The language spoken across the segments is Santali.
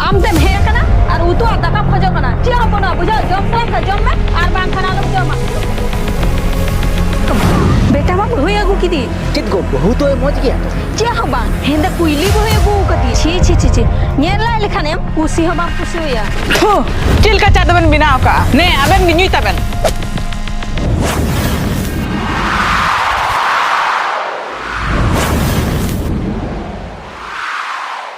ᱟᱢ ᱛᱮᱢ ᱦᱮᱡ ᱟᱠᱟᱱᱟ ᱟᱨ ᱩᱛᱩ ᱟᱨ ᱫᱟᱠᱟᱢ ᱠᱷᱚᱡᱚᱜ ᱠᱟᱱᱟ ᱪᱮᱫ ᱦᱚᱸ ᱵᱟᱹᱱᱩᱜᱼᱟ ᱵᱩᱡᱷᱟᱹᱣ ᱡᱚᱢ ᱥᱟᱱᱟᱢ ᱠᱷᱟᱱ ᱡᱚᱢ ᱢᱮ ᱟᱨ ᱵᱟᱝ ᱠᱷᱟᱱ ᱟᱞᱚᱢ ᱡᱚᱢᱟ ᱵᱮᱴᱟ ᱢᱟ ᱵᱟᱹᱦᱩᱭ ᱟᱹᱜᱩ ᱠᱤᱫᱤ ᱪᱮᱫ ᱜᱚ ᱵᱟᱹᱦᱩ ᱫᱚᱭ ᱢᱚᱡᱽ ᱜᱮᱭᱟ ᱛᱚ ᱪᱮᱫ ᱦᱚᱸ ᱵᱟᱝ ᱦᱮᱸᱫᱟ ᱠᱩᱭᱞᱤ ᱵᱟᱹᱦᱩᱭ ᱟᱹᱜᱩ ᱠᱟᱫᱤ ᱪᱷᱤ ᱪᱷᱤ ᱪᱷᱤ ᱪᱷᱤ ᱧᱮᱞ ᱞᱟᱭ ᱞᱮᱠᱷᱟᱱ ᱮᱢ ᱠᱩᱥᱤ ᱦᱚᱸ ᱵᱟᱢ ᱠᱩᱥᱤᱣᱟᱭᱟ ᱦᱳ ᱪᱮᱫ ᱞᱮᱠᱟ ᱪᱟ ᱫᱚᱵᱮᱱ ᱵᱮᱱᱟᱣ ᱠᱟᱜᱼᱟ ᱱᱮ ᱟᱵᱮᱱ ᱜᱮ ᱧᱩᱭ ᱛᱟᱵᱮᱱ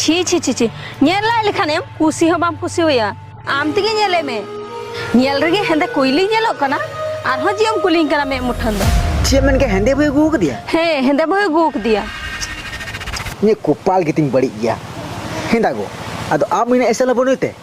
ᱪᱷᱤ ᱪᱷᱤ ᱪᱷᱤ ᱪᱷᱤ ᱧᱮᱞ ᱞᱟᱭ ᱞᱮᱠᱷᱟᱱ ᱮᱢ ᱠᱩᱥᱤ ᱦᱚᱸ ᱵᱟᱢ ᱠᱩᱥᱤᱣᱟᱭᱟ ᱟᱢ ᱛᱮᱜᱮ ᱧᱮᱞᱮ ᱢᱮ ᱧᱮᱞ ᱨᱮᱜᱮ ᱦᱮᱸᱫᱮ ᱠᱩᱭᱞᱤ ᱧᱮᱞᱚᱜ ᱠᱟᱱᱟ ᱟᱨᱦᱚᱸ ᱡᱮ ᱮᱢ ᱠᱩᱞᱤᱧ ᱠᱟᱱᱟ ᱢᱮᱫ ᱢᱩᱴᱷᱟᱹᱱ ᱫᱚ ᱪᱮᱫ ᱮᱢ ᱢᱮᱱ ᱠᱮᱫᱟ ᱦᱮᱸᱫᱮ ᱵᱟᱹᱭ ᱟᱹᱜᱩ ᱟᱠᱟᱫᱮᱭᱟ ᱦᱮᱸ ᱦᱮᱸᱫᱮ ᱵᱟᱹᱦᱩᱭ ᱟᱹᱜᱩ ᱟᱠᱟᱫᱮᱭᱟ ᱤᱧᱟᱹᱜ ᱠᱚᱯᱟᱞ ᱜᱮᱛᱤᱧ ᱵᱟᱹᱲᱤᱡ ᱜᱮᱭᱟ ᱦᱮᱸᱫᱟ ᱜᱳ ᱟᱫᱚ ᱟᱢ ᱤᱱᱟᱹᱜ ᱮᱥᱮᱞ ᱦᱚᱸ ᱵᱟᱹᱱᱩᱭ ᱛᱮ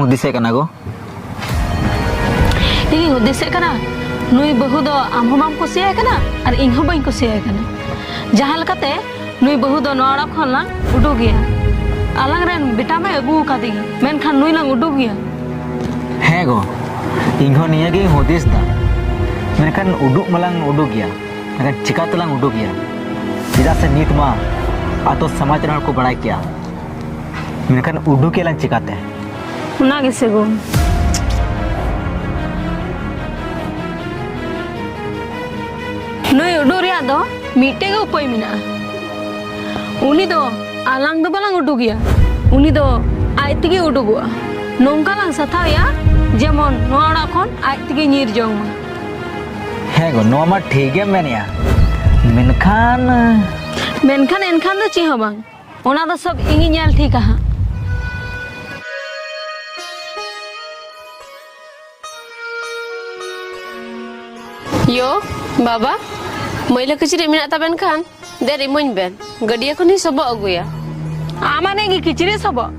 ᱦᱩᱫᱤᱥᱮᱫ ᱠᱟᱱᱟ ᱜᱚ ᱤᱧ ᱦᱩᱫᱤᱥᱮᱫ ᱠᱟᱱᱟ ᱱᱩᱭ ᱵᱟᱹᱦᱩ ᱫᱚ ᱟᱢ ᱦᱚᱸ ᱵᱟᱢ ᱠᱩᱥᱤᱭᱟᱭ ᱠᱟᱱᱟ ᱟᱨ ᱤᱧ ᱦᱚᱸ ᱵᱟᱹᱧ ᱠᱩᱥᱤᱭᱟᱭ ᱠᱟᱱᱟ ᱡᱟᱦᱟᱸ ᱞᱮᱠᱟᱛᱮ ᱱᱩᱭ ᱵᱟᱹᱦᱩ ᱫᱚ ᱱᱚᱣᱟ ᱚᱲᱟᱜ ᱠᱷᱚᱱ ᱞᱟᱝ ᱩᱰᱩᱠᱮᱭᱟ ᱟᱞᱟᱝ ᱨᱮᱱ ᱵᱮᱴᱟ ᱢᱟᱭ ᱟᱹᱜᱩ ᱟᱠᱟᱫᱮ ᱜᱮ ᱢᱮᱱᱠᱷᱟᱱ ᱱᱩᱭ ᱞᱟᱝ ᱩᱰᱩᱠᱮᱭᱟ ᱦᱮᱸ ᱜᱚ ᱤᱧ ᱦᱚᱸ ᱱᱤᱭᱟᱹ ᱜᱮᱧ ᱦᱩᱫᱤᱥ ᱫᱟ ᱢᱮᱱᱠᱷᱟᱱ ᱩᱰᱩᱠ ᱢᱟᱞᱟᱝ ᱩᱰᱩᱠᱮᱭᱟ ᱢᱮᱱᱠᱷᱟᱱ ᱪᱤᱠᱟ ᱛᱮᱞᱟᱝ ᱩᱰᱩᱠᱮᱭᱟ ᱪᱮᱫᱟᱜ ᱥᱮ ᱱᱤᱛ ᱢᱟ ᱟᱛᱳ ᱥᱚᱢᱟᱡᱽ ᱨᱮᱱ ᱦᱚᱲ ᱠᱚ ᱵᱟᱲᱟᱭ ᱠᱮᱭᱟ ᱢᱮᱱᱠᱷᱟᱱ ᱩᱰᱩᱠᱮᱭᱟ ᱞᱟᱝ ᱪᱤᱠᱟᱛᱮ ᱚᱱᱟ ᱜᱮᱥᱮ ᱜᱚ ᱱᱩᱭ ᱩᱰᱩᱠ ᱨᱮᱭᱟᱜ ᱫᱚ ᱢᱤᱫᱴᱮᱡ ᱜᱮ ᱩᱯᱟᱹᱭ ᱢᱮᱱᱟᱜᱼᱟ ᱩᱱᱤ ᱫᱚ ᱟᱞᱟᱝ ᱫᱚ ᱵᱟᱞᱟᱝ ᱩᱰᱩᱠᱮᱭᱟ ᱩᱱᱤ ᱫᱚ ᱟᱡ ᱛᱮᱜᱮ ᱩᱰᱩᱠᱚᱜᱼᱟ ᱱᱚᱝᱠᱟ ᱞᱟᱝ ᱥᱟᱛᱷᱟᱣᱮᱭᱟ ᱡᱮᱢᱚᱱ ᱱᱚᱣᱟ ᱚᱲᱟᱜ ᱠᱷᱚᱱ ᱟᱡ ᱛᱮᱜᱮ ᱧᱤᱨ ᱡᱚᱝ ᱢᱟ ᱦᱮᱸ ᱜᱚ ᱱᱚᱣᱟ ᱢᱟ ᱴᱷᱤᱠ ᱜᱮᱢ ᱢᱮᱱᱮᱜᱼᱟ ᱢᱮᱱᱠᱷᱟᱱ ᱢᱮᱱᱠᱷᱟᱱ ᱮᱱᱠᱷᱟᱱ ᱫᱚ ᱪᱮᱫ ᱦᱚᱸ ᱵᱟᱝ ᱚᱱᱟ ᱫᱚ ᱥᱚᱵ ᱤᱧᱤᱧ ᱧᱮᱞ ᱴᱷᱤᱠᱟ ᱦᱟᱸᱜ ᱭᱳ ᱵᱟᱵᱟ ᱢᱟᱹᱭᱞᱟᱹ ᱠᱤᱪᱨᱤᱡ ᱢᱮᱱᱟᱜ ᱛᱟᱵᱮᱱ ᱠᱷᱟᱱ ᱫᱮ ᱨᱤᱢᱟᱹᱧ ᱵᱮᱱ ᱜᱟᱹᱰᱭᱟᱹ ᱠᱷᱚᱱ ᱤᱧ ᱥᱚᱵᱚᱜ ᱟᱹᱜᱩᱭᱟ ᱟᱢᱟᱱᱮ ᱜᱮ ᱠᱤᱪᱨᱤᱡ ᱥᱚᱵᱚᱜ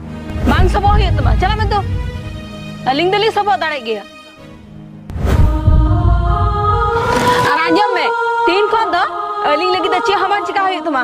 ᱵᱟᱝ ᱥᱚᱵᱚᱜ ᱦᱩᱭᱩᱜ ᱛᱟᱢᱟ ᱪᱟᱞᱟᱜ ᱢᱮ ᱛᱚ ᱟᱹᱞᱤᱧ ᱫᱚᱞᱤᱧ ᱥᱚᱵᱚᱜ ᱫᱟᱲᱮᱜ ᱜᱮᱭᱟ ᱟᱨ ᱟᱸᱡᱚᱢ ᱢᱮ ᱛᱤᱦᱤᱧ ᱠᱷᱚᱱ ᱫᱚ ᱟᱹᱞᱤᱧ ᱞᱟᱹᱜᱤᱫ ᱫᱚ ᱪᱮᱫ ᱦᱚᱸ ᱵᱟᱝ ᱪᱤᱠᱟ ᱦᱩᱭᱩᱜ ᱛᱟᱢᱟ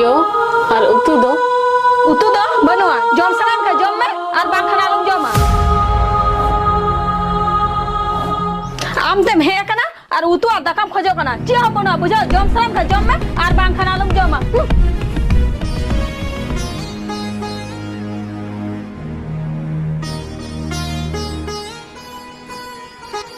ᱭᱳ ᱟᱨ ᱩᱛᱩ ᱫᱚ ᱩᱛᱩ ᱫᱚ ᱵᱟᱹᱱᱩᱜᱼᱟ ᱡᱚᱢ ᱥᱟᱱᱟᱢ ᱠᱷᱟᱱ ᱡᱚᱢ ᱢᱮ ᱟᱨ ᱵᱟᱝᱠᱷᱟᱱ ᱟᱞᱚᱢ ᱡᱚᱢᱟ ᱟᱢ ᱛᱮᱢ ᱦᱮᱡ ᱟᱠᱟᱱᱟ ᱟᱨ ᱩᱛᱩ ᱟᱨ ᱫᱟᱠᱟᱢ ᱠᱷᱚᱡᱚᱜ ᱠᱟᱱᱟ ᱪᱮᱫ ᱦᱚᱸ ᱵᱟᱹᱱᱩᱜᱼᱟ ᱵᱩᱡᱷᱟᱹᱣ ᱡᱚᱢ ᱥᱟᱱᱟᱢ ᱠᱷᱟᱱ ᱡᱚᱢ ᱢᱮ ᱟᱨ ᱵᱟᱝᱠᱷᱟᱱ ᱟᱞᱚᱢ ᱡᱚᱢᱟ Ha ha ha.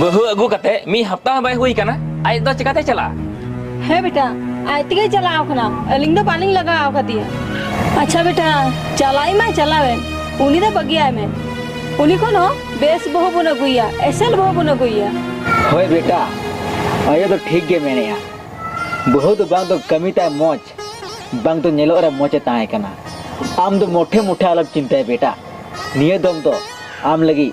ᱵᱟᱹᱦᱩ ᱟᱹᱜᱩ ᱠᱟᱛᱮ ᱢᱤᱫ ᱦᱟᱯᱛᱟ ᱦᱚᱸ ᱵᱟᱭ ᱦᱩᱭ ᱠᱟᱱᱟ ᱟᱡ ᱫᱚ ᱪᱤᱠᱟᱛᱮ ᱪᱟᱞᱟᱜᱼᱟ ᱦᱮᱸ ᱵᱮᱴᱟ ᱟᱡ ᱛᱮᱜᱮ ᱪᱟᱞᱟᱣ ᱠᱟᱱᱟ ᱟᱹᱞᱤᱧ ᱫᱚ ᱵᱟᱹᱞᱤᱧ ᱞᱟᱜᱟᱣ ᱟᱠᱟᱫᱮᱭᱟ ᱟᱪᱪᱷᱟ ᱵᱮᱴᱟ ᱪᱟᱞᱟᱣ ᱢᱟᱭ ᱪᱟᱞᱟᱣᱮᱱ ᱩᱱᱤ ᱫᱚ ᱵᱟᱹᱜᱤᱭᱟᱭ ᱢᱮ ᱩᱱᱤ ᱠᱷᱚᱱ ᱦᱚᱸ ᱵᱮᱥ ᱵᱟᱹᱦᱩ ᱵᱚᱱ ᱟᱹᱜᱩᱭᱟ ᱮᱥᱮᱞ ᱵᱟᱹᱦᱩ ᱵᱚᱱ ᱟᱹᱜᱩᱭᱟ ᱦᱳᱭ ᱵᱮᱴᱟ ᱟᱭᱳ ᱫᱚ ᱴᱷᱤᱠ ᱜᱮ ᱢᱮᱱᱮᱜᱼᱟ ᱵᱟᱹᱦᱩ ᱫᱚ ᱵᱟᱝ ᱫᱚ ᱠᱟᱹᱢᱤ ᱛᱟᱭ ᱢᱚᱡᱽ ᱵᱟᱝ ᱫᱚ ᱧᱮᱞᱚᱜ ᱨᱮ ᱢᱚᱡᱽ ᱮ ᱛᱟᱦᱮᱸ ᱠᱟᱱᱟ ᱟᱢ ᱫᱚ ᱢᱚᱴᱷᱮ ᱢᱚᱴᱷᱮ ᱟᱞᱚᱢ ᱪᱤᱱᱛᱟᱹᱭᱟ ᱵᱮᱴᱟ ᱱᱤᱭᱟᱹ ᱫᱚᱢ ᱫᱚ ᱟᱢ ᱞᱟᱹᱜᱤᱫ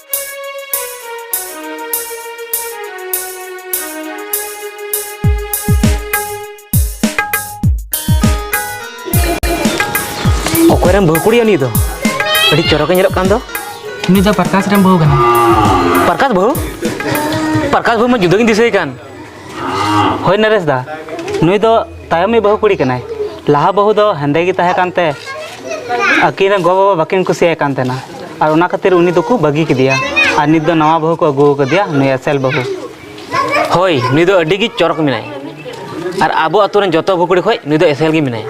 ᱚᱠᱚᱭᱨᱮᱱ ᱵᱟᱹᱦᱩ ᱠᱩᱲᱤᱭᱟ ᱩᱱᱤ ᱫᱚ ᱟᱹᱰᱤ ᱪᱚᱨᱚᱠᱮ ᱧᱮᱞᱚᱜ ᱠᱟᱱ ᱫᱚ ᱩᱱᱤ ᱫᱚ ᱯᱨᱚᱠᱟᱥ ᱨᱮᱱ ᱵᱟᱹᱦᱩ ᱠᱟᱱᱟᱭ ᱯᱨᱚᱠᱟᱥ ᱵᱟᱹᱦᱩ ᱯᱨᱚᱠᱟᱥ ᱵᱟᱹᱦᱩ ᱢᱟ ᱡᱩᱫᱟᱹ ᱜᱤᱧ ᱫᱤᱥᱟᱹᱭᱮ ᱠᱟᱱ ᱦᱳᱭ ᱱᱚᱨᱮᱥ ᱫᱟ ᱱᱩᱭ ᱫᱚ ᱛᱟᱭᱚᱢᱤᱡ ᱵᱟᱹᱦᱩ ᱠᱩᱲᱤ ᱠᱟᱱᱟᱭ ᱞᱟᱦᱟ ᱵᱟᱹᱦᱩ ᱫᱚ ᱦᱮᱸᱫᱮ ᱜᱮ ᱛᱟᱦᱮᱸ ᱠᱟᱱᱛᱮ ᱟᱹᱠᱤᱱ ᱨᱮᱱ ᱜᱚ ᱵᱟᱵᱟ ᱵᱟᱹᱠᱤᱱ ᱠᱩᱥᱤᱭᱟᱭ ᱠᱟᱱ ᱛᱟᱦᱮᱱᱟ ᱟᱨ ᱚᱱᱟ ᱠᱷᱟᱹᱛᱤᱨ ᱩᱱᱤ ᱫᱚᱠᱚ ᱵᱟᱹᱜᱤ ᱠᱮᱫᱮᱭᱟ ᱟᱨ ᱱᱤᱛ ᱫᱚ ᱱᱟᱣᱟ ᱵᱟᱹᱦᱩ ᱠᱚ ᱟᱹᱜᱩ ᱟᱠᱟᱫᱮᱭᱟ ᱱᱩᱭ ᱮᱥᱮᱞ ᱵᱟᱹᱦᱩ ᱦᱳᱭ ᱱᱩᱭ ᱫᱚ ᱟᱹᱰᱤ ᱜᱮ ᱪᱚᱨᱚᱠ ᱢᱮᱱᱟᱭ ᱟᱨ ᱟᱵᱚ ᱟᱛᱳ ᱨᱮᱱ ᱡᱚᱛᱚ ᱵᱟᱹᱦᱩ ᱠᱩᱲᱤ ᱠᱷᱚᱡ ᱱᱩᱭ ᱫᱚ ᱮᱥᱮᱞ ᱜᱮ ᱢᱮᱱᱟᱭᱟ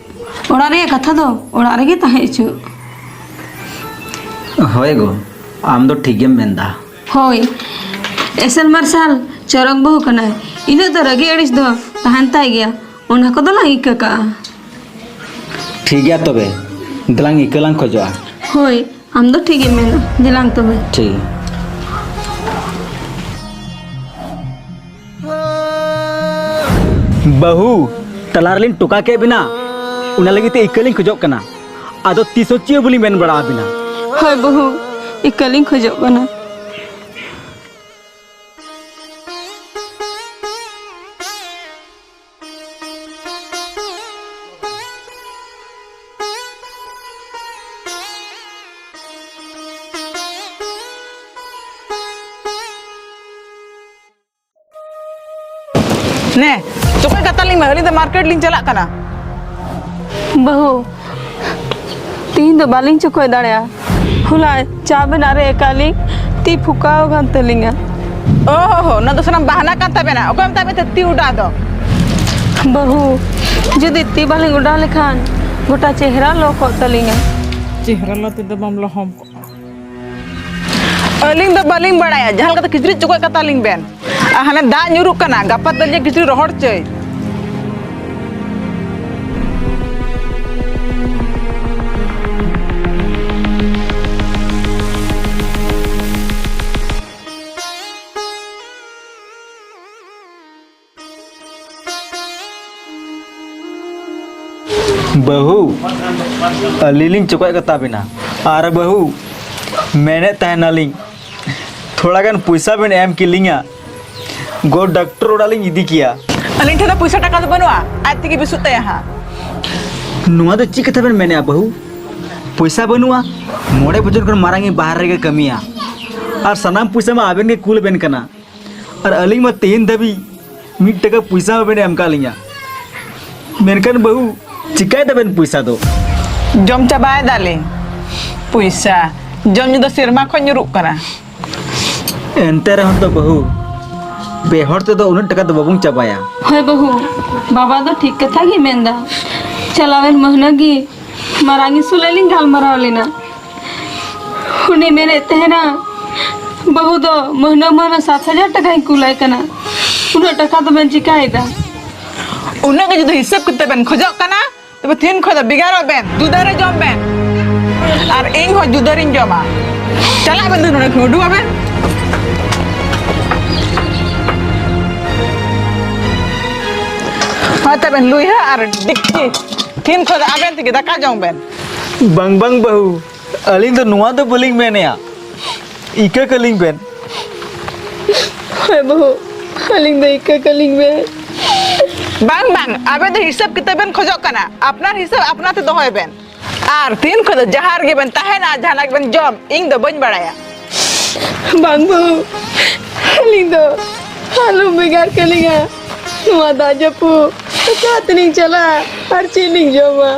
ᱚᱲᱟᱜ ᱨᱮᱭᱟᱜ ᱠᱟᱛᱷᱟ ᱫᱚ ᱚᱲᱟᱜ ᱨᱮᱜᱮ ᱛᱟᱦᱮᱸ ᱦᱚᱪᱚ ᱦᱳᱭ ᱜᱚ ᱟᱢ ᱫᱚ ᱴᱷᱤᱠ ᱜᱮᱢ ᱢᱮᱱᱫᱟ ᱦᱳᱭ ᱮᱥᱮᱞ ᱢᱟᱨᱥᱟᱞ ᱪᱚᱨᱚᱠ ᱵᱟᱹᱦᱩ ᱠᱟᱱᱟᱭ ᱤᱱᱟᱹᱜ ᱫᱚ ᱨᱟᱹᱜᱤ ᱟᱹᱲᱤᱥ ᱫᱚ ᱛᱟᱦᱮᱱ ᱛᱟᱭ ᱜᱮᱭᱟ ᱚᱱᱟ ᱠᱚᱫᱚ ᱞᱟᱝ ᱤᱠᱟᱹ ᱠᱟᱜᱼᱟ ᱴᱷᱤᱠ ᱜᱮᱭᱟ ᱛᱚᱵᱮ ᱫᱮᱞᱟᱝ ᱤᱠᱟᱹ ᱞᱟᱝ ᱠᱷᱚᱡᱚᱜᱼᱟ ᱦᱳᱭ ᱟᱢ ᱫᱚ ᱴᱷᱤᱠ ᱜᱮᱢ ᱢᱮᱱᱟ ᱫᱮᱞᱟᱝ ᱛᱚᱵᱮ ᱴᱷᱤᱠ ᱵᱟᱹᱦᱩ ᱛᱟᱞᱟ ᱨᱮᱞᱤᱧ ᱴᱚᱠᱟ ᱠᱮᱫ ᱵᱤᱱᱟ ᱚᱱᱟ ᱞᱟᱹᱜᱤᱫ ᱛᱮ ᱤᱠᱟᱹᱞᱤᱧ ᱠᱷᱚᱡᱚᱜ ᱠᱟᱱᱟ ᱟᱫᱚ ᱛᱤᱥ ᱦᱚᱸ ᱪᱮᱫ ᱦᱚᱸ ᱵᱟᱹᱞᱤᱧ ᱢᱮᱱ ᱵᱟᱲᱟ ᱟᱵᱤᱱᱟ ᱦᱳᱭ ᱵᱟᱹᱦᱩ ᱤᱠᱟᱹᱞᱤᱧ ᱠᱷᱚᱡᱚᱜ ᱠᱟᱱᱟ ᱱᱮ ᱪᱚᱠᱚᱡ ᱠᱟᱛᱟ ᱞᱤᱧ ᱢᱮ ᱟᱹᱞᱤᱧ ᱫᱚ ᱢᱟᱨᱠᱮᱴ ᱞᱤᱧ ᱪᱟᱞᱟᱜ ᱠᱟᱱᱟ ᱵᱟᱹᱦᱩ ᱛᱤᱦᱤᱧ ᱫᱚ ᱵᱟᱹᱞᱤᱧ ᱪᱚᱠᱚᱡ ᱫᱟᱲᱮᱭᱟᱜᱼᱟ ᱦᱚᱞᱟ ᱪᱟ ᱵᱮᱱᱟᱜ ᱨᱮ ᱮᱠᱟᱞᱤᱧ ᱛᱤ ᱯᱷᱩᱠᱟᱣ ᱠᱟᱱ ᱛᱟᱹᱞᱤᱧᱟ ᱚ ᱦᱚ ᱚᱱᱟ ᱫᱚ ᱥᱟᱱᱟᱢ ᱵᱟᱦᱟᱱᱟ ᱠᱟᱱ ᱛᱟᱵᱮᱱᱟ ᱚᱠᱚᱭ ᱢᱮᱛᱟᱜ ᱢᱮᱛᱮ ᱛᱤ ᱩᱰᱟ ᱫᱚ ᱵᱟᱹᱦᱩ ᱡᱩᱫᱤ ᱛᱤ ᱵᱟᱹᱞᱤᱧ ᱚᱰᱟᱣ ᱞᱮᱠᱷᱟᱱ ᱜᱚᱴᱟ ᱪᱮᱦᱨᱟ ᱞᱚ ᱠᱚᱜ ᱛᱟᱹᱞᱤᱧᱟ ᱪᱮᱦᱨᱟ ᱞᱚ ᱛᱮᱫᱚ ᱵᱟᱢ ᱞᱚᱦᱚᱢ ᱠᱚᱜᱼᱟ ᱟᱹᱞᱤᱧ ᱫᱚ ᱵᱟᱹᱞᱤᱧ ᱵᱟᱲᱟᱭᱟ ᱡᱟᱦᱟᱸ ᱞᱮᱠᱟᱛᱮ ᱠᱤᱪᱨᱤᱡ ᱪᱚᱠᱚᱡ ᱠᱟᱛᱟ ᱞᱤᱧ ᱵᱮᱱ ᱟᱨ ᱦᱟᱱᱮ ᱫᱟᱜ ᱧᱩᱨᱩᱜ ᱠᱟᱱᱟ ᱜᱟᱯᱟ ᱛᱟᱹᱞᱤᱧ ᱠᱤᱪᱨᱤᱡ ᱨᱚᱦᱚᱲ ᱪᱟᱹᱭ ᱵᱟᱹᱦᱩ ᱟᱹᱞᱤᱧ ᱞᱤᱧ ᱪᱚᱠᱚᱡ ᱠᱟᱛᱟ ᱵᱮᱱᱟ ᱟᱨ ᱵᱟᱹᱦᱩ ᱢᱮᱱᱮᱫ ᱛᱟᱦᱮᱱᱟᱞᱤᱧ ᱛᱷᱚᱲᱟ ᱜᱟᱱ ᱯᱚᱭᱥᱟ ᱵᱮᱱ ᱮᱢ ᱠᱮᱞᱤᱧᱟ ᱜᱚ ᱰᱟᱠᱴᱚᱨ ᱚᱲᱟᱜ ᱞᱤᱧ ᱤᱫᱤ ᱠᱮᱭᱟ ᱟᱹᱞᱤᱧ ᱴᱷᱮᱱ ᱫᱚ ᱯᱚᱭᱥᱟ ᱴᱟᱠᱟ ᱫᱚ ᱵᱟᱹᱱᱩᱜᱼᱟ ᱟᱡ ᱛᱮᱜᱮ ᱵᱮᱥᱚᱜ ᱛᱟᱭᱟ ᱦᱟᱸᱜ ᱱᱚᱣᱟ ᱫᱚ ᱪᱮᱫ ᱠᱟᱛᱷᱟ ᱵᱮᱱ ᱢᱮᱱᱮᱜᱼᱟ ᱵᱟᱹᱦᱩ ᱯᱚᱭᱥᱟ ᱵᱟᱹᱱᱩᱜᱼᱟ ᱢᱚᱬᱮ ᱵᱚᱪᱷᱚᱨ ᱠᱷᱚᱱ ᱢᱟᱨᱟᱝ ᱤᱧ ᱵᱟᱦᱨᱮ ᱨᱮᱜᱮ ᱠᱟᱹᱢᱤᱭᱟ ᱟᱨ ᱥᱟᱱᱟᱢ ᱯᱚᱭᱥᱟ ᱢᱟ ᱟᱵᱮᱱ ᱜᱮ ᱠᱩᱞ ᱵᱮᱱ ᱠᱟᱱᱟ ᱟᱨ ᱟᱹᱞᱤᱧ ᱢᱟ ᱛᱮᱦᱮᱧ ᱫᱷᱟᱹᱵᱤᱡ ᱢᱤᱫ ᱴᱟᱠᱟ ᱯᱚᱭᱥᱟ ᱦᱚᱸ ᱵᱮᱱ ᱮᱢ ᱠᱟᱜ ᱞᱤᱧᱟ ᱢᱮᱱᱠᱷᱟᱱ ᱵᱟᱹᱦᱩ ᱪᱤᱠᱟᱭ ᱫᱟᱵᱮᱱ ᱯᱚᱭᱥᱟ ᱫᱚ ᱡᱚᱢ ᱪᱟᱵᱟᱭ ᱫᱟᱞᱤᱧ ᱯᱚᱭᱥᱟ ᱡᱚᱢ ᱧᱩ ᱫᱚ ᱥᱮᱨᱢᱟ ᱠᱷᱚᱱ ᱧᱩᱨᱩᱜ ᱠᱟᱱᱟ ᱮᱱᱛᱮ ᱨᱮᱦᱚᱸ ᱛᱚ ᱵᱟᱹᱦᱩ ᱯᱮ ᱦᱚᱲ ᱛᱮᱫᱚ ᱩᱱᱟᱹᱜ ᱴᱟᱠᱟ ᱫᱚ ᱵᱟᱵᱚᱱ ᱪᱟᱵᱟᱭᱟ ᱦᱳᱭ ᱵᱟᱹᱦᱩ ᱵᱟᱵᱟ ᱫᱚ ᱴᱷᱤᱠ ᱠᱟᱛᱷᱟ ᱜᱮ ᱢᱮᱱᱫᱟ ᱪᱟᱞᱟᱣᱮᱱ ᱢᱟᱹᱦᱱᱟᱹ ᱜᱮ ᱢᱟᱨᱟᱝ ᱤᱥᱩᱞᱮ ᱞᱤᱧ ᱜᱟᱞᱢᱟᱨᱟᱣ ᱞᱮᱱᱟ ᱩᱱᱤ ᱢᱮᱱᱮᱫ ᱛᱟᱦᱮᱱᱟ ᱵᱟᱹᱦᱩ ᱫᱚ ᱢᱟᱹᱦᱱᱟᱹ ᱢᱟᱹᱦᱱᱟᱹ ᱥᱟᱛ ᱦᱟᱡᱟᱨ ᱴᱟᱠᱟᱧ ᱠᱩᱞᱟᱭ ᱠᱟᱱᱟ ᱩᱱᱟᱹᱜ ᱴᱟᱠᱟ ᱫᱚᱵᱮᱱ ᱪᱤᱠᱟᱭᱮᱫᱟ ᱩᱱᱟᱹᱜ ᱜᱮ ᱡᱩᱫᱤ ᱦᱤᱥᱟᱹᱵ ᱠᱟᱛᱮ ᱵᱮᱱ ᱠᱷᱚᱡᱚᱜ ᱠᱟᱱᱟ ᱛᱚᱵᱮ ᱛᱤᱦᱤᱧ ᱠᱷᱚᱱ ᱫᱚ ᱵᱷᱮᱜᱟᱨᱚᱜ ᱵᱮᱱ ᱡᱩᱫᱟᱹ ᱨᱮ ᱡᱚᱢ ᱵᱮᱱ ᱟᱨ ᱤᱧ ᱦᱚᱸ ᱡᱩᱫᱟᱹ ᱨᱤᱧ ᱡᱚᱢᱟ ᱪᱟᱞᱟᱜ ᱵᱮᱱ ᱫᱩ ᱱᱚᱰᱮ ᱠᱷᱚᱱ ᱩᱰᱩᱠᱚᱜ ᱵᱮᱱ ᱦᱳᱭ ᱛᱚᱵᱮ ᱞᱩᱭᱦᱟᱹ ᱟᱨ ᱰᱮᱠᱪᱤ ᱛᱤᱦᱤᱧ ᱠᱷᱚᱱ ᱫᱚ ᱟᱵᱮᱱ ᱛᱮᱜᱮ ᱫᱟᱠᱟ ᱡᱚᱢ ᱵᱮᱱ ᱵᱟᱝ ᱵᱟᱝ ᱵᱟᱹᱦᱩ ᱟᱹᱞᱤᱧ ᱫᱚ ᱱᱚᱣᱟ ᱫᱚ ᱵᱟᱹᱞᱤᱧ ᱢᱮᱱᱮᱜᱼᱟ ᱤᱠᱟᱹ ᱠᱟᱹᱞᱤᱧ ᱵᱮᱱ ᱦᱮᱸ ᱵᱟᱹᱦᱩ ᱟᱹᱞᱤᱧ ᱫᱚ ᱤᱠᱟᱹ ᱠᱟᱹᱞᱤᱧ ᱵᱮᱱ ᱵᱟᱝ ᱵᱟᱝ ᱟᱵᱮᱱ ᱫᱚ ᱦᱤᱥᱟᱹᱵ ᱠᱤᱛᱟᱹᱵ ᱵᱮᱱ ᱠᱷᱚᱡᱚᱜ ᱠᱟᱱᱟ ᱟᱯᱱᱟᱨ ᱦᱤᱥᱟᱹᱵ ᱟᱯᱱᱟᱨ ᱛᱮ ᱫᱚᱦᱚᱭ ᱵᱮᱱ ᱟᱨ ᱛᱤᱱ ᱠᱷᱚᱱ ᱫᱚ ᱡᱟᱦᱟᱸ ᱨᱮᱜᱮ ᱵᱮᱱ ᱛᱟᱦᱮᱱᱟ ᱡᱟᱦᱟᱱᱟᱜ ᱜᱮᱵᱮᱱ ᱡᱚᱢ ᱤᱧ ᱫᱚ ᱵᱟᱹᱧ ᱵᱟᱲᱟᱭᱟ ᱵᱟᱝ ᱵᱟᱹᱦᱩ ᱟᱹᱞᱤᱧ ᱫᱚ ᱟᱞᱚ ᱵᱷᱮᱜᱟᱨ ᱠᱟᱹᱞᱤᱧᱟ ᱱᱚᱣᱟ ᱫᱟᱜ ᱡᱟᱹᱯᱩᱫ ᱚᱠᱟ ᱛᱮᱞᱤᱧ ᱪᱟᱞᱟᱜᱼᱟ ᱟᱨ ᱪᱮᱫ ᱞᱤᱧ ᱡᱚᱢᱟ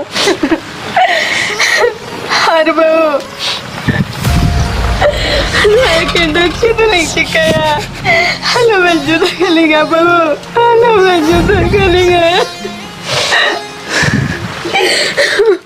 ᱟᱨ ᱵᱟᱹᱦᱩ ᱱᱚᱣᱟ ᱮᱠᱮᱱ ᱫᱚ ᱪᱮᱫ ᱞᱤᱧ ᱪᱤᱠᱟᱹᱭᱟ ᱟᱞᱚ ᱵᱮᱱ ᱡᱩᱫᱟᱹ ᱠᱟᱹᱞᱤᱧᱟ ᱵᱟᱹᱦᱩ ᱟᱞᱚ ᱵᱮᱱ ᱡᱩᱫᱟᱹ ᱠᱟᱹᱞᱤᱧᱟ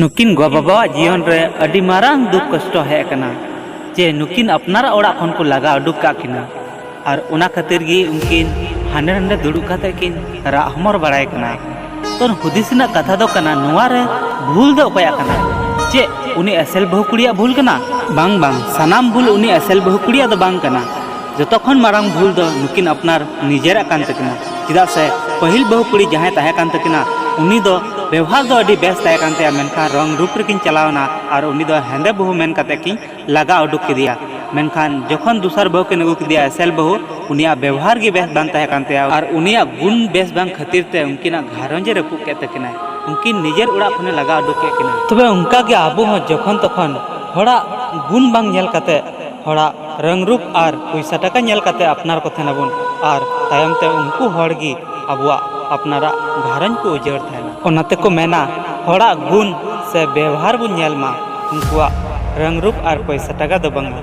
ᱱᱩᱠᱤᱱ ᱜᱚ ᱵᱟᱵᱟᱣᱟᱜ ᱡᱤᱭᱚᱱ ᱨᱮ ᱟᱹᱰᱤ ᱢᱟᱨᱟᱝ ᱫᱩᱠ ᱠᱚᱥᱴᱚ ᱦᱮᱡ ᱟᱠᱟᱱᱟ ᱡᱮ ᱱᱩᱠᱤᱱ ᱟᱯᱱᱟᱨᱟᱜ ᱚᱲᱟᱜ ᱠᱷᱚᱱ ᱠᱚ ᱞᱟᱜᱟ ᱩᱰᱩᱠ ᱠᱟᱜ ᱠᱤᱱᱟ ᱟᱨ ᱚᱱᱟ ᱠᱷᱟᱹᱛᱤᱨ ᱜᱮ ᱩᱱᱠᱤᱱ ᱦᱟᱸᱰᱮ ᱱᱟᱸᱰᱮ ᱫᱩᱲᱩᱵ ᱠᱟᱛᱮ ᱠᱤᱱ ᱨᱟᱜ ᱦᱚᱢᱚᱨ ᱵᱟᱲᱟᱭ ᱠᱟᱱᱟ ᱛᱚ ᱦᱩᱫᱤᱥ ᱨᱮᱱᱟᱜ ᱠᱟᱛᱷᱟ ᱫᱚ ᱠᱟᱱᱟ ᱱᱚᱣᱟ ᱨᱮ ᱵᱷᱩᱞ ᱫᱚ ᱚᱠᱚᱭᱟᱜ ᱠᱟᱱᱟ ᱪᱮᱫ ᱩᱱᱤ ᱮᱥᱮᱞ ᱵᱟᱹᱦᱩ ᱠᱩᱲᱤᱭᱟᱜ ᱵᱷᱩᱞ ᱠᱟᱱᱟ ᱵᱟᱝ ᱵᱟᱝ ᱥᱟᱱᱟᱢ ᱵᱷᱩᱞ ᱩᱱᱤ ᱮᱥᱮᱞ ᱵᱟᱹᱦᱩ ᱠᱩᱲᱤᱭᱟᱜ ᱫᱚ ᱵᱟᱝ ᱠᱟᱱᱟ ᱡᱚᱛᱚ ᱠᱷᱚᱱ ᱢᱟᱨᱟᱝ ᱵᱷᱩᱞ ᱫᱚ ᱱᱩᱠᱤᱱ ᱟᱯᱱᱟᱨ ᱱᱤᱡᱮᱨᱟᱜ ᱠᱟᱱ ᱛᱟᱹᱠᱤᱱᱟ ᱪᱮᱫᱟᱜ ᱥᱮ ᱯᱟᱹᱦᱤᱞ ᱵᱟᱹᱦᱩ ᱠᱩᱲᱤ ᱡᱟᱦᱟᱸᱭ ᱛᱟᱦᱮᱸ ᱠᱟᱱ ᱛᱟᱹᱠᱤᱱᱟ ᱩᱱᱤ ᱫᱚ ᱵᱮᱣᱦᱟᱨ ᱫᱚ ᱟᱹᱰᱤ ᱵᱮᱥ ᱛᱟᱦᱮᱸ ᱠᱟᱱ ᱛᱟᱭᱟ ᱢᱮᱱᱠᱷᱟᱱ ᱨᱚᱝ ᱨᱩᱯ ᱨᱮᱠᱤᱱ ᱪᱟᱞᱟᱣᱱᱟ ᱟᱨ ᱩᱱᱤ ᱫᱚ ᱦᱮᱸᱫᱮ ᱵᱟᱹᱦᱩ ᱢᱮᱱ ᱠᱟᱛᱮ ᱠᱤᱱ ᱞᱟᱜᱟ ᱩᱰᱩᱠ ᱠᱮᱫᱮᱭᱟ ᱢᱮᱱᱠᱷᱟᱱ ᱡᱚᱠᱷᱚᱱ ᱫᱚᱥᱟᱨ ᱵᱟᱹᱦᱩ ᱠᱤᱱ ᱟᱹᱜᱩ ᱠᱮᱫᱮᱭᱟ ᱮᱥᱮᱞ ᱵᱟᱹᱦᱩ ᱩᱱᱤᱭᱟᱜ ᱵᱮᱣᱦᱟᱨ ᱜᱮ ᱵᱮᱥ ᱵᱟᱝ ᱛᱟᱦᱮᱸ ᱠᱟᱱ ᱛᱟᱭᱟ ᱟᱨ ᱩᱱᱤᱭᱟᱜ ᱜᱩᱱ ᱵᱮᱥ ᱵᱟᱝ ᱠᱷᱟᱹᱛᱤᱨ ᱛᱮ ᱩᱱᱠᱤᱱᱟᱜ ᱜᱷᱟᱨᱚᱸᱡᱽ ᱮ ᱨᱟᱹᱯᱩᱫ ᱠᱮᱫ ᱛᱟᱹᱠᱤᱱᱟ ᱩᱱᱠᱤᱱ ᱱᱤᱡᱮᱨ ᱚᱲᱟᱜ ᱠᱷᱚᱱᱮ ᱞᱟᱜᱟ ᱩᱰᱩᱠ ᱠᱮᱫ ᱠᱤᱱᱟ ᱛᱚᱵᱮ ᱚᱱᱠᱟ ᱜᱮ ᱟᱵᱚ ᱦᱚᱸ ᱡᱚᱠᱷᱚᱱ ᱛᱚᱠᱷᱚᱱ ᱦᱚᱲᱟᱜ ᱜᱩᱱ ᱵᱟᱝ ᱧᱮᱞ ᱠᱟᱛᱮ ᱦᱚᱲᱟᱜ ᱨᱟᱹᱝ ᱨᱩᱯ ᱟᱨ ᱯᱩᱭᱥᱟ ᱴᱟᱠᱟ ᱧᱮᱞ ᱠᱟᱛᱮ ᱟᱯᱱᱟᱨ ᱠᱚ ᱛᱟᱦᱮᱱᱟ ᱵᱚᱱ ᱟᱨ ᱛᱟᱭᱚᱢ ᱛᱮ ᱩᱱᱠᱩ ᱦᱚᱲ ᱜᱮ ᱟᱵᱚᱣᱟᱜ ᱟᱯᱱᱟᱨᱟᱜ ᱜᱷᱟᱨᱚᱸᱡᱽ ᱠᱚ ᱩᱡᱟᱹᱲ ᱛᱟᱦᱮᱱᱟ᱾ ᱚᱱᱟ ᱛᱮ ᱠᱚ ᱢᱮᱱᱟ ᱦᱚᱲᱟᱜ ᱜᱩᱱ ᱥᱮ ᱵᱮᱣᱦᱟᱨ ᱵᱚᱱ ᱧᱮᱞ ᱢᱟ ᱩᱱᱠᱩᱣᱟᱜ ᱨᱟᱹᱝ ᱨᱩᱯ ᱟᱨ ᱯᱩᱭᱥᱟ ᱴᱟᱠᱟ ᱫᱚ ᱵᱟᱝᱼᱟ᱾